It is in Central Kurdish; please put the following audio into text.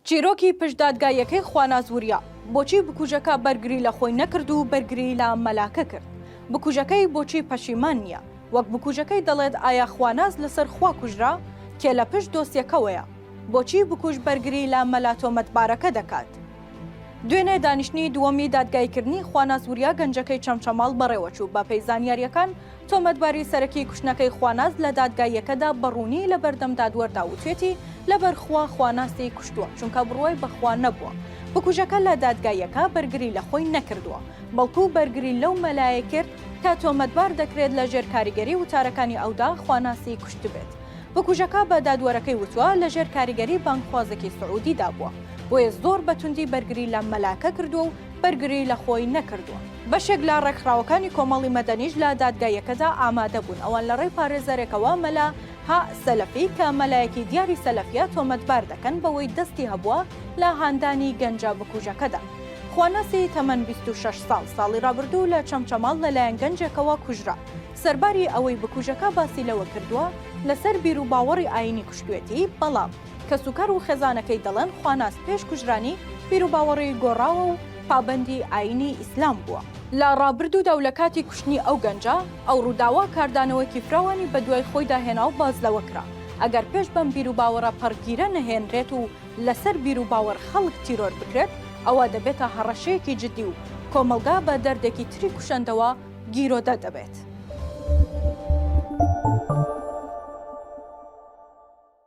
چیرۆکی پشت دادگاییەکەی خواناز وریا، بۆچی بکوژەکە بەرگری لە خۆی نەکرد و بەرگری لە مەلاکە کرد؟ بکوژەکەی بۆچی پەشیمان نییە؟ وەک بکوژەکەی دەڵێت ئایا خواناز لەسەر خوا کوژرا؟ کێ لە پشت دۆسیەکەوەیە؟ بۆچی بکوژ بەرگری لە مەلا تۆمەتبارەکە دەکات؟ دوێنێ دانیشتنی دووەمی دادگاییکردنی خواناز وریا گەنجەکەی چەمچەماڵ بەڕێوەچوو، بەپێی زانیارییەکان تۆمەتباری سەرەکی کوشتنەکەی خواناز لە دادگاییەکەدا بە ڕوونی لە بەردەم دادوەردا وتوێتی، لەبەر خوا خوانازتی کوشتووە، چونکە بڕوای بە خوا نەبووە. بکوژەکە لە دادگاییەکە بەرگری لە خۆی نەکردووە، بەڵکو بەرگری لەو مەلایەی کرد کە تۆمەتبار دەکرێت لە ژێر کاریگەری وتارەکانی ئەودا خوانازتی کوشتبێت. بکوژەکە بە دادوەرەکەی وتووە لە ژێر کاریگەری بانگخوازێکی سعودیدا بووە، بۆیە زۆر بە توندی بەرگری لە مەلاکە کردووە و بەرگری لە خۆی نەکردووە. بەشێک لە ڕێکخراوەکانی کۆمەڵی مەدەنیش لە دادگاییەکەدا ئامادە بوون، ئەوان لە ڕێی پارێزەرێکەوە مەلا، هە، سەلەفی کە مەلایەکی دیاری سەلەفیە تۆمەتبار دەکەن بەوەی دەستی هەبووە لە هاندانی گەنجە بکوژەکەدا. خواناسی تەمەن بیست و شەش ساڵ، ساڵی ڕابردوو لە چەمچەماڵ لەلایەن گەنجێکەوە کوژرا، سەرباری ئەوەی بکوژەکە باسی لەوە کردووە لەسەر بیروباوەڕی ئایینی کوشتوێتی، بەڵام. کەسوکار و خێزانەکەی دەڵێن خواناس پێش کوژرانی بیروباوەڕی گۆڕاوە و پابەندی ئایینی ئیسلام بووە. لە ڕابردوودا و لە کاتی کوشتنی ئەو گەنجە، ئەو ڕووداوە کاردانەوەیەکی فراوانی بەدوای خۆیدا هێنا و باس لەوە کرا، ئەگەر پێش بەم بیروباوەڕە پەڕگیرە نەهێنرێت و لەسەر بیروباوەڕ خەڵک تیرۆر بکرێت، ئەوا دەبێتە هەڕەشەیەکی جددی و کۆمەڵگا بە دەردێکی تری کوشەندەوە گیرۆدە دەبێت.